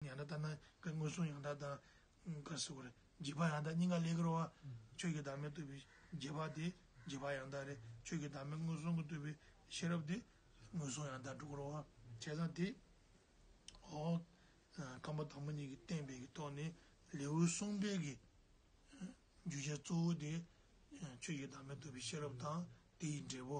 ཡང་དག་ལྟར་སྣང་མངོན་སུམ་ཡང་དག་དང། ཀར་སོགས་པར་འཇིག་པ་ཡང་དག་སྙིང་ག་ལས་ཀྱི་རོ། ཆོས་ཀྱི་བདག་མེད་བཏུལ་བའི་རྒྱས་པ་དེ། འཇིག་པ་ཡང་དག་རེ་ཆོས་ཀྱི་བདག་མེད་མངོན་སུམ་གྱི་བཏུལ་བའི་ཤེས་རབ་དེ། མངོན་སུམ་ཡང་དག་སྒྲོ་སྐུར་བ་བྱས་ཙང་དེ། ཧོ། ཁམས་པ་དང་པོ་གཉིས་ཀྱི་བསྟན་པའི་གྱི་ཐོག་ནས་ལེའུའི་གསུང་སྤེལ་གྱི། རྒྱུ་ཆ་གཙོ་བོ་དེ། ཆོས་ཀྱི་བདག་མེད་བཏུལ་བའི་ཤེས་རབ་དང་དེ་ཡི་འབྲས་བུ།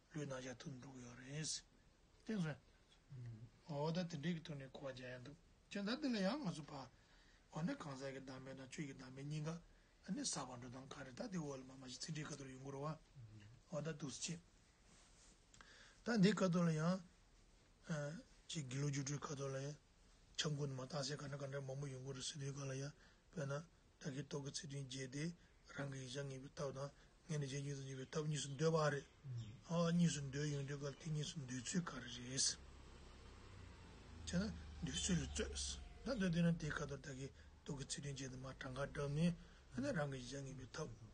ལུས་སྣང་ཆ་ཐུབ་འགྲོ་གི་ཡོད་རེད། བསྟན་སོང། འོ་ད་དེ་འདྲའི་གི་ཐུགས་ནས་གོ་བ་རྒྱག་ཡ་འདུག་ཅི་འདྲ་འདི་ལ་ཡང་ང་ཚོ་ཕ། འོ་ན་གང་ཟག་གི་བདག་མེད་དང་ཆོས་ཀྱི་བདག་མེད་གཉིས་ཀ་ནི་ཟག་པ་འགྲོ་སྟངས་ག་རེ་ད་དེ་འོག་ལ་མ་མ་ཞིག་ཚིག་འགྲེལ་ཁ་ཐུར་ཡོང་གི་རོ་བ། འོ་ད་ཐུགས་རྗེ་ཆེ། ད་འདི་ཁ་ཐུར་ལ་ཡང། ཅེས་དགེ་ལུགས་སྒྱུ་འཕྲུལ་ཁ་ཐུར་ལ་ཡང། ཆབ་མགོན་དུ་མ་རྟགས་གསལ་ག་འདྲ་ག་འདྲ་མང་པོ་ཡོང་གི་རེད་སྲིད་དུས་ག་ལ་ཡ། དཔེར་ན། བདག་གིས་རྟོག་གེ་ཚིག་དོན་བརྒྱད་དེ། རང་གི་ཡིག་ཆ་ངེས་པའི་རྟགས་དང། ངེས་ནས་རྗེས་འཇུག་ཏུ་འཇུག་པའི་རྟགས་གཉིས་སུ་འདོད་པ་རེད། ཨ། གཉིས་སུ་འདོད་ཡོང་དུས་གལ་ཏེ་གཉིས་སུ་འདོད་ཚུལ་ག་རེ་རེད། ཅེ་ན། འདོད་ཚུལ་ལ་རྩོད། ད་འདོད་དེ་ན་དེའི་ཁ་དོག་བདག་གིས་རྟོག་གེ་ཚིག་དོན་བརྒྱད་དུ་མ་གྲངས་ཀ་བསྒྲགས་ནས། ཨ་ནི་རང་གི་ཡིག་ཆ་ངེས་པའི་རྟགས།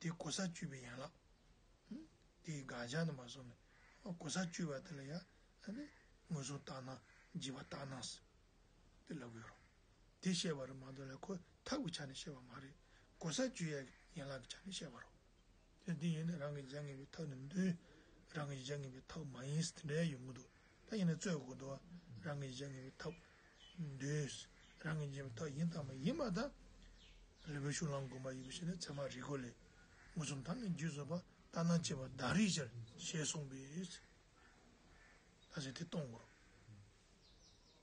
དེ་གོ་ས་བཅུ་པའི་ཡན་ལག། དེའི་དགག་བྱ་རྣམ་པ་གསུམ་ནི། གོ་ས་བཅུ་པ་དེ་ལ་ཡང་ངོས་བཟུང་བརྟགས་ན་འཇིག་པ་རྟག་སྣང། དེ་བློ་དགོས་རུང། དེ་བཤད་པ་རུ་མ་འདོད་ལ་ཁོ་ཐག་གི་ཆ་ནས་བཤད་པ་མ་རེད། གོ་ས་བཅུ་ཡན་ལག་གི་ཆ་ནས་བཤད་པ་རུ། དེ་ཡིན་ན་རང་གི་གཞན་ངེས་པའི་ཐབས་ནི་མདོའི་རང་གི་གཞན་ངེས་པའི་ཐབས་མ་ཡིན་ཟེར་དེ་འདྲའི་ཡོང་གི་འདུག་ད་ཡིན་ན་རྩོད་དགོས་འདུག་རང་གིས་བཞག་ངེས་པའི་ཐབས། འདོད། རང་གིས་བྱས་པའི་ཐབས་ཡིན་དང་མ་ཡིན་པ་དང། རི་བོའི་ཤུགས་ལངས་དགོན་པར་ཡོད་པའི་ཤེས་ལས་ཚད་མ་རིག་སྒོ་ལས། མངོན་སུམ་དང་ནི་རྒྱུད་བཟོད་པ་ལྟར་སྣང་བྱེད་པ་བདག་རིག་ཅེས་གསུངས་པས། ད་ཆ་དེ་གཏོང་དགོས།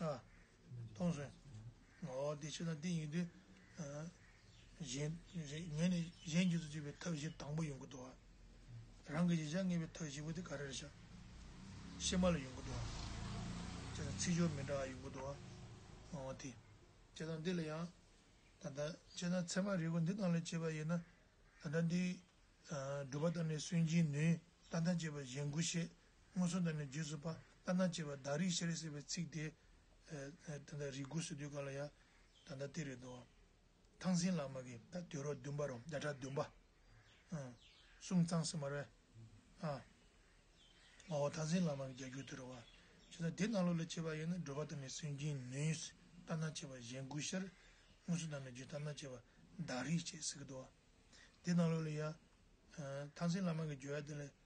ཨ། སྟོང་གསོན། ངོ། འདི་ཕྱི་དང་འདི་གཉིས་དུས། གཞན། ངས་ནི་གཞན་རྒྱུད་དུ་བཅུག་པའི་ཐབས་བཞི་དང་པོ་ཡོངས་ཀྱི་བསྡུ་བ། རང་གི་ཡིད་བཞག་ངེས་པའི་ཐབས་བཞི་པོ་དེ་ག་རེར་བྱ། ཕྱི་མ་ལ་ཡོངས་ཀྱི་བསྡུ་བ། ཅེས་དང། ཚིག་སྦྱོར་མི་འདྲ་བ་ཡོངས་ཀྱི་བསྡུ་བ། ངོ་བོ་དེ། ཅེས་དང་འདི་ལ་ཡང། ད་ལྟ། ཅེས་དང་ཚད་མ་རིལ་བུ་འདི་དང་ལས་བྱེད་པ་ཡིན་ན། ད་ལྟ་འདི། སྒྲུབ་པ་དང་ནི་སུན་འབྱིན་ནུས། ལྟ་དང་བཅས་པ་གཞན་དགུ་བཤད། སྔོན་སོང་དང་ནི་རྗེས་སུ་དཔག་ལྟ་ན་བཅས་པ་བདག་རིག་ཤཱ་རི་ཟེར་བའི་ཚིག་དེ། ད་ལྟ་རིགས་དགུ་སོ་བདུན་ག་ལ་ཡ། ད་ལྟ་སྟེ་རེ་དོགས། ཐང་སིན་ལག་མ་གི། ད་དུས་རོ་བདུན་པ་རོ་བརྒྱ་ཕྲག་བདུན་པ། གསུམ་ཚང་སིན་མར་བས། མ་འོ་ཐང་སིན་ལག་མ་གི་བརྒྱ་འགྱུར་དུ་རོ་བ། ཇི་ལྟར་དེ་རྣམས་བློ་ལ་བྱེད་པ་ཡིན་ན་བགྲོད་པ་དང་ནི་སུན་འབྱིན་ནུས། ལྟ་ན་བཅས་པ་གཞན་དགུ་ཤར། སྔོན་སོང་དང་ནི་རྗེས་ལྟ་ན་བཅས་པ་བདག་རིག་ཅེས་ཟེར་གྱི་དོ། དེ་རྣམས་བློ་ལ་ཡ། ཐང་སིན་ལག་མ་གི་བརྗོད་ཡ་དེ་ལས།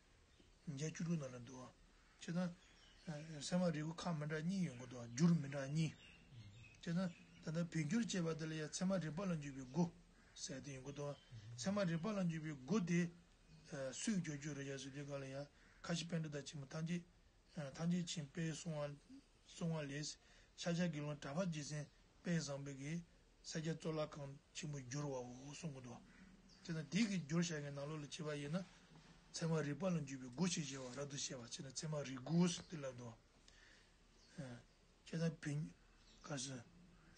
བརྒྱད་བཅུ་དྲུག་ན་ལ་འདུ་བ། ཅེ་ན། སེམས་དཔའ་རིལ་བུ་ཁ་མི་འདྲ་གཉིས་ཡོད་འགོ་འདུ་བ་འགྱུར་མི་འདྲ་གཉིས། ཅེ་ན། ད་ལྟ་བོད་འགྱུར་ཅེས་པ་འདི་ལ་ཡང་མཚན་མ་རིག་པ་ལ་འཇུག་པའི་སྒོ། ཟེར་ཏེ་ཡོད་འགོ་འདུ་བ། མཚན་མ་རིག་པ་ལ་འཇུག་པའི་སྒོ་དེ། སུས་བསྒྱུར་རྒྱུ་རེད་ཡ་ཟེར་དུས་ག་ལ་ཡ། ཁ་ཤི་བན་དྷུ་དང་ཆེན་མོ་ཐམས་ཅད། ཐམས་ཅད་བྱིན་པས་གསུང་བ། གསུང་བ་ལས། ཤཱཀྱ་དགེ་སློང་གྲྭ་པ་རྗེ་བཙུན་དཔལ་བཟང་པོ་དགེ། ས་སྐྱ་གཙོ་བླ་ཁང་ཆེན་པོ་བསྒྱུར་བའོ་གསུང་གི་འདུག་དེས་ན་དེའི་གི་བསྒྱུར་བྱ་བའི་ནང་ལོགས་ལ་བྱེད་པ་ཡིན་ན། ཚད་མ་རིག་པ་ལ་འཇུག་པའི་སྒོ་ཕྱེ་བྱེད་བ་རབ་ཏུ་བཤད་པ་བྱས་ན་ཚད་མ་རིག་དགུ་སྟེ་བསླབ་ཏུ། ཁྱེད་རང་བོན། ག་སོ།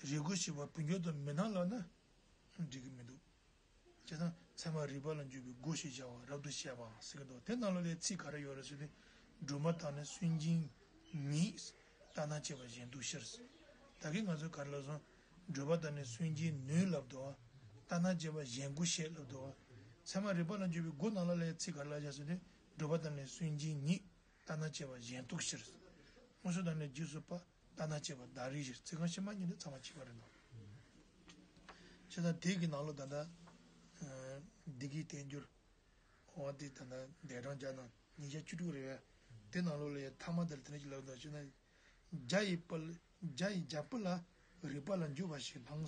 རིག་དགུ་ཞེས་པ་བོན་སྐྱོར་དུ་མི་སྣང་ལགས་ན། འགྲིག་གི་མི་འདུག། བྱས་ཙང་ཚད་མ་རིག་པ་ལ་འཇུག་པའི་སྒོ་ཞེས་བྱ་བར་རབ་ཏུ་བཤད་པའང་གསལ་གྱི་མདོ་དེ་རྣམས་ལ་ལས་ཚིག་ག་རེ་ཡོད་རེ་ཟོས་ཏེ་སྒྲོལ་མ་དང་ནི་སུན་འབྱིན་ཉིད། ལྟ་སྣང་བྱེད་པ་གཞན་དུ་ཤར། ད་གིན་ང་ཚོས་ག་རེ་ལབ་སོང། སྒྲོལ་མ་དང་ནི་སུན་འབྱིན་ནུས་ལབ་དོ། ལྟ་སྣང་བྱེད་པ་གཞན་དགུ་ཞེས་ལབ་དོ། ཚད་མ་རིག་པ་ལ་འཇུག་པའི་སྒོ་རྣམས་ལ་ལས་ཚིག་ག་རེ་ལ་བཞག་ཟོས་ཏེ་སྒྲོལ་མ་དང་ནི་སུན་འབྱིན་ཉིད། ལྟ་སྣང་བྱེད་པ་གཞན་དུ་ཤར། དངོས་སུ་དང་ནི་རྗེས་སུ་དཔག། ལྟ་ན་ཅེས་པ་བདག་རིག་བཞིར་ཚིག་རྐང་ཕྱི་མ་གཉིས་ནི་ཚང་བར་བྱེད་པར་རིགས་ནོ། ཅེས་དང། དེ་གི་ནང་ལོ་ད་ལྟ། སྡིག་གིས་བསྟན་འགྱུར། བ་སྟེ་ད་ལྟ་འདས་གྲངས་བརྒྱ་དང་ཉིས་བརྒྱ་བཅུ་དྲུག་རེ་བས། དེ་ནང་ལོ་ལ་ཡི་དྭགས་མ་དེར་དེ་ནས་ཅི་ལབ་དོ་ཅེ་ན། བརྒྱ་ཡི་བརྒྱ་ཡི་བརྒྱ་པོ་ལ་རིགས་པ་ལ་འགྱུར་བ་ཞིག་སྣང།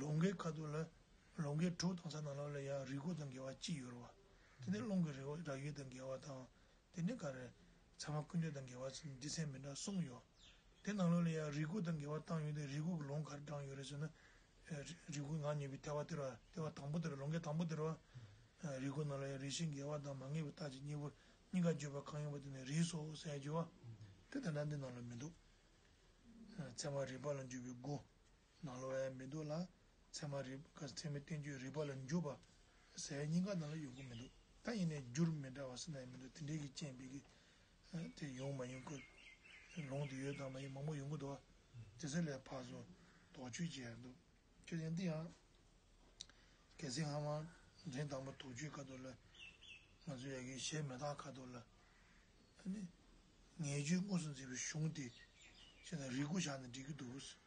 ལོང་གའི་ཁ་དོག་ལ་ལོང་གའི་དྲོད་གཏོང་ས་དང་ལ་ལ་ཡང་རིལ་གོ་དང་འགལ་བ་ཅི་ཡོད་རོ། དེ་ནས་རླུང་གི་རེ་བ་ར་ཡོད་དང་འགལ་བ་དང། དེ་ནས་ག་རེ། ཚད་མ་ཀུན་འདོད་དང་འགལ་བ་ཚུལ་འདི་ཚད་མི་འདྲ་གསུམ་ཡོད། དེ་དང་ལ་ལ་ཡང་རིལ་གོ་དང་འགལ་བ་སྟངས་ཡོད་དེ་རིལ་གོ་གི་ལོང་ག་རེ་དྲངས་ཡོད་རེ་ཟོས་ན། རིལ་གོའི་ངག་ཉེ་བའི་ལྟེ་བ་དེར་བ་ལྟེ་བ་དང་པོ་དེར་ལོང་གའི་དང་པོ་དེར་བ། རིལ་གོ་ནང་ལ་ཡང་རིལ་ཞེས་འགལ་བ་དང་མ་ངེས་པའི་རྟགས་ཀྱི་གཉེན་པོར་གཉིས་ཀ་བརྗོད་པ་གང་ཡིན་པ་དེ་ནི་རིལ་སོགས་སའི་རྒྱུ་བ། དེ་དང་འདྲ་འདི་ནང་ལ་མི་འདུག། ཚད་མ་རིལ་པ་ལ་འཇུག་པའི་སྒོ། ནང་ལོ་བས་མི་འདུག་ལ། ཚད་མ་རིགས་པ་ཚད་མའི་བསྟན་བཅོས་རིགས་པ་ལ་འཇུག་པ། ཟེར་བའི་སྙིང་ག་ནང་ལ་ཡོང་གི་མི་འདུག་ད་ཡིན་ནའི་རྒྱུར་མི་འདྲ་བ་སུ་ན་ཡང་མི་འདུག་དེ་འདྲའི་གི་རྐྱེན་པས་གི། དེ་ཡོང་མ་ཡོང་གི། ལུང་དེ་ཡོད་དམ་མ་ཡོད་མང་པོ་ཡོང་གི་འདུག་དེ་ཚོའི་ལས་ཕར་ཟོ་དོགས་གཅོད་བྱས་ཡག་འདུག་ཁྱོད་ཀྱང་འདི་ཡང། གལ་སྲིད་ཧ་མ་འདྲེན་དང་པོ་དོགས་གཅོད་ཁ་ཐོར་ལ། ང་ཚོ་ཡ་གི་གཞས་མེ་སྟག་ཁ་ཐོར་ལ། ངས་ཆུ་དངོས་སུ་འཛིན་པའི་གཞུང་དེ། ཞེས་ན་རིགས་དགུ་བཞག་ནས་འགྲིག་གི་འདུག་གི།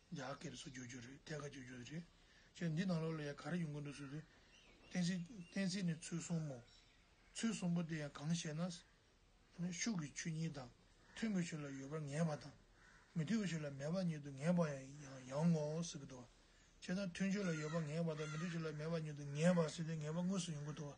རྒྱ་སྐད་དུ་སུ་བསྒྱུར་རྒྱུ་རེད་ཐད་ཀར་བསྒྱུར་རྒྱུ་རེད། ཁྱོད་འདི་ནང་ལོགས་ལ་ཡང་ག་རེ་ཡོང་གི་འདུག་ཟེར་དུས། བསྟན་སྲིད་བསྟན་སྲིད་ནི་ཚུལ་གསུམ་མོ། ཚུལ་གསུམ་པོ་དེ་ཡང་གང་ཞེ་ན། ཤུགས་ཀྱི་ཆོས་གཉིས་དང། མཐུན་པའི་ཆོས་ལ་ཡོད་པར་ངེས་པ་དང། མི་མཐུན་པའི་ཆོས་ལ་མེད་པར་ཉིད་དུ་ངེས་པར་ཡང་ངོ། ཟེར་གི་འདུག་བ། ཅེས་ན་མཐུན་ཆོས་ལ་ཡོད་པར་ངེས་པ་དང་མི་མཐུན་ཆོས་ལ་མེད་པར་ཉིད་དུ་ངེས་པ་ཟེར་དུས་ངེས་པ་དངོས་སུ་ཡོང་གི་འདུག་བ།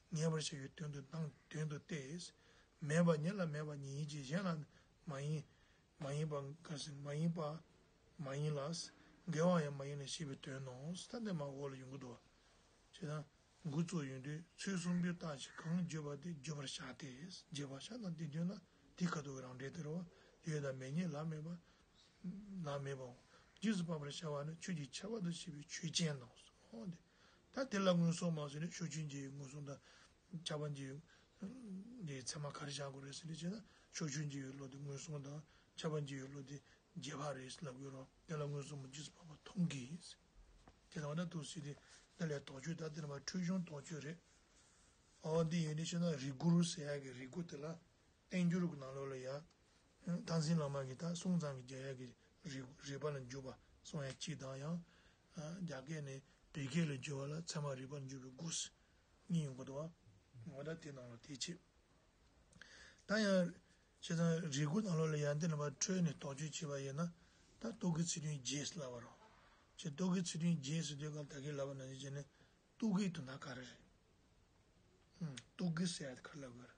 ངེས་པར་བྱ་བའི་དོན་དུ་དང་དོན་དུ་སྟེ། མེད་པ་ཉིད་ལ་མེད་པ་ཉིད་ཡིན་གྱི་གཞན་ལ་མ་ཡིན། མ་ཡིན་པ་འགའ་ཞིག་མ་ཡིན་པ་མ་ཡིན་ལ། འགལ་བ་ཡང་མ་ཡིན་ལ་ཞེས་པའི་དོན་ནོ། ཐ་དད་མ་འོག་ལ་ཡོད་དགུ་དོ། ཅེ་ན། དགུ་གཙོ་ཡོད་དུས་ཚོད་གསུམ་པོའི་རྟགས་ཀྱིས་གང་བརྗོད་པ་དེ་བརྗོད་པར་བྱ་སྟེ། རྗེས་པ་ཤ་དང་དེའི་དོན་ལ་དེའི་ཁ་དོག་གི་རང་འབྲས་དེར་བ་ཡོད་དང་མེད་ཉིད་ལ་མེད་པ། ལ་མེད་པའོ། རྗེས་སུ་དཔག་པར་བྱ་བ་ནི་ཆོས་ཀྱི་ཁྱད་པར་དུ་བྱས་པའི་ཆོས་ཅན་དང། ད་དེ་ལ་སྔོན་སོང་མ་ཟེར་ནས་ཤོ་ཆུན་གྱི་སྔོན་སོང་དང་ཆགས་པ་འདི་ཚད་མ་ག་རེ་བཞག་དགོས་རེད་ཟེར་ནས་བྱས་ན་ཤོ་ཆུན་གྱི་བློ་དེ་སྔོན་སོང་དང་ཆགས་པ་འདི་ཡོད་བློ་དེ་རྗེས་དཔག་རེད་ཟེར་ལབ་དགོས་རོགས་དེ་ལ་སྔོན་སོང་མ་ཇི་སྲིད་བར་བར་མཐོང་གི་ཡིན་ཟེར་དེ་ལྟ་བ་ན་དུ་སྲིད་དེ་ལས་དོགས་གཅོད་ད་དེ་ནི་བར་འཕྲོད་གཞུང་དོགས་གཅོད་རེད། ཨོ་འདི་ཡིན་ནི་ཤེས་ན་རིགས་དགུ་རུ་ཟེར་ཡག་གི་རིགས་དགུ་དེ་ལ་བསྟན་འགྱུར་གྱི་ནང་ལོགས་ལ་ཡང། དྷ་སེན་བླ་མ་གྱིས་དག་སྲུང་ཚང་གི་རྒྱ་ཡག་གི་རིགས་པ་ལ་འཇུག་པ་སོང་ཡ་གཅིག་དང་ཡང། རྒྱ་སྐད་ནས་བོད་སྐད་ལ་བསྒྱུར་བ་ལ་ཚད་མ་རིགས་པར་འགྱུར་བའི་སྒོ་ཟེར་གཉིས་ཡོང་གི་འདུག་བ། ང་ད་དེ་ནང་ལོགས་དེ་ཆེད། ད་ཡང། བྱས་ཙང་རེ་སྒུག་ནང་ལོགས་ལ་ཡང་འདི་ལ་བར་འཕྲོས་ནས་དོགས་གཅོད་བྱེད་པ་ཡིན་ན། ད་སྟོད་གི་ཚིག་དོན་བརྗེད་སླ་བ་རང། ཅེས་སྟོད་གི་ཚིག་དོན་བརྗེད་ཟེར་དུས་སྐབས་ད་གེ་ལ་བ་ན་ཅིག་བྱས་ནས། སྟུག་གི་དུ་ན་ག་རེ་རེད། སྟུག་གི་ཟེར་ཡ་དེ་ག་ལ་དགོས་རེད།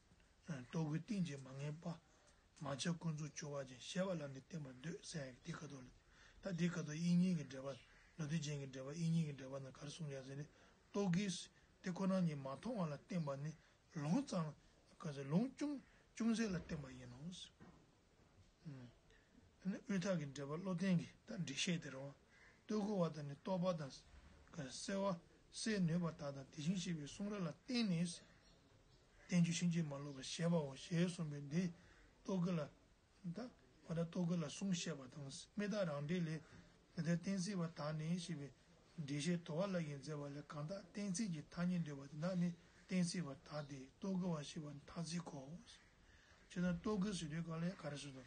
ལྟོ་གོས་གཏིང་བརྗེད་མ་ངེས་པདྨ་ཆགས་ཀུན་རྫོགས་སྤྱོད་བ་ཅན་ཞེས་པ་ལ་ནི་བརྟེན་པར་འདོད་སའི་དེ་ཁ་དོག་ལྟ་དེ་ཁ་དོག་དབྱིག་གཉེན་གྱི་འགྲེལ་པ་ལོ་དུས་ཅན་གྱི་འགྲེལ་པ་དབྱིག་གཉེན་གྱི་འགྲེལ་པ་ན་གར་གསུངས་ཀྱང་ཟེར་ནི་ལྟོ་གོས་དེ་ཁོ་ན་ཉིད་མ་མཐོང་བ་ལ་བརྟེན་པ་ནི་ལུང་གཙང། ལུང་ཅུང་ཟད་ལ་བརྟེན་པ་ཡིན་ནོ། དབུས་མཐའ་གི་འགྲེལ་པ་བློ་བརྟན་གྱིས་ད་འགྲེལ་བཤད་དེ་རང་བསྟོད་གོ་བ་དང་ནི་རྟོགས་པ་དང། གསལ་བ། གསལ་ནུས་པ་དག་དང་དེ་བཞིན་གཤེགས་པའི་གསུང་རབ་ལ་བརྟེན་ནས། བསྟན་བཅོས་ཕྱིན་ཅི་མ་ལོག་པར་བཤད་པའོ་ཞེས་གསུངས་པས་འདིར་རྟོག་གེ་ལ་དང། མ་དག་རྟོག་གེ་ལ་གསུང་བཤད་པ་དང་མི་དག་རང་འགྲེལ་ལས། འདི་ལྟར་གཏན་ཚིགས་པ་དག་ནི་ཞེས་པའི་འགྲེལ་བཤད་དོ་བ་ལ་ཡིས་མཛད་པ་ལས་གང་དག་གཏན་ཚིགས་ཀྱི་ཐ་སྙད་འདོད་པ་དེ་དག་ནི་གཏན་ཚིགས་པ་དག་སྟེ་རྟོག་གེ་བ་ཞེས་པ་ཐ་ཚིག་གོ། སྤྱིར་ན་རྟོག་གེ་ཟེར་དུས་གང་ལས་ག་རེ་ཟེར་ཏོ།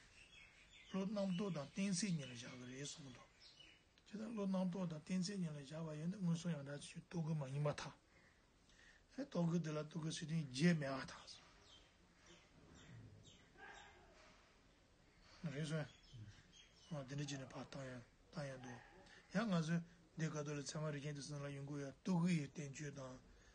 བློ་སྣང་རྟོག་དང་གཏན་ཚིགས་གཉིས་ལ་བཞག་གི་རེད་གསུངས་ཏོ། སྤྱིར་ན་བློ་སྣང་རྟོག་དང་གཏན་ཚིགས་གཉིས་ལ་བཞག་པ་ཡིན་ན་སྔོན་སོང་ཡང་དག་ཆོས་རྟོག་གེ་མ་ཡིན་པ་དང། རྟོག་གེ་དེ་ལ་རྟོག་གེ་ཟེར་དོན་རྒྱས་མེད་པ་དང། རེད་སོན། འོ་དེ་འདྲ་བྱས་ནས་བར་བཏང་ཡང་བཏང་ཡང་འདུག་ཡང་ང་ཚོས་འདི་ག་ཏོ་ལི་ཚད་མ་རིག་མཁན་དེ་ཚོ་ལ་ཡོང་གི་ཡོད་རྟོག་གེ་ཡི་བསྟན་བཅོས་དང།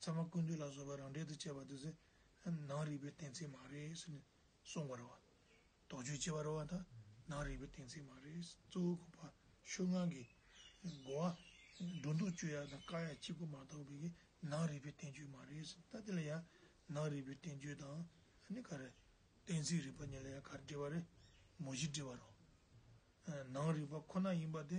ཚད་མ་ཀུན་བཏུས་ལ་བཟོད་པ་རང་འགྲེལ་དུ་བྱས་པ་དེ་ནང་རིག་པའི་གཏན་ཚིགས་མ་རེད་ཟེར་ནས་གསུངས་པར་བ། དོགས་གཅོད་བྱེད་པར་བ་དང་ནང་རིག་པའི་གཏན་ཚིགས་མ་རེད་གཙོ་བོ་གོ་བ་ཤོད་ངང་གི་གོ་བ། སྒྲོ་འདོགས་གཅོད་ཡ་དང་བཀག་ཡ་གཅིག་པུ་མ་གཏོགས་པའི་གི་ནང་རིག་པའི་བསྟན་བཅོས་མ་རེད་ཟེར་ད་དེ་ལ་ཡང་ནང་རིག་པའི་བསྟན་བཅོས་དང་ནི་ག་རེ། གཏན་ཚིགས་རིག་པ་གཉིས་ལ་ཡང་ག་རེ་འབྲེལ་བ་རེད་མོ་བཞི་འབྲེལ་བ་རོ། ནང་རིག་པ་ཁོ་ན་ཡིན་པ་དེ་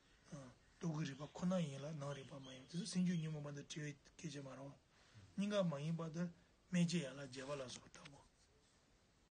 འདུག་གི་རིག་པ་ཁོ་ན་ཡིན་ལ་ནང་རིག་པ་མ་ཡིན་པ་དེ་སུ་སེམས་རྒྱུད་ཉོན་མོངས་པ་འདི་བྲི་བའི་སྐད་ཅིག་མ་རང། སྙིང་ག་མ་ཡིན་པ་འདི་སྨྲས་སྐྱེ་ཡ་ལ་རྒྱལ་བ་ལ་སོགས་པ་ལྟ་བུ།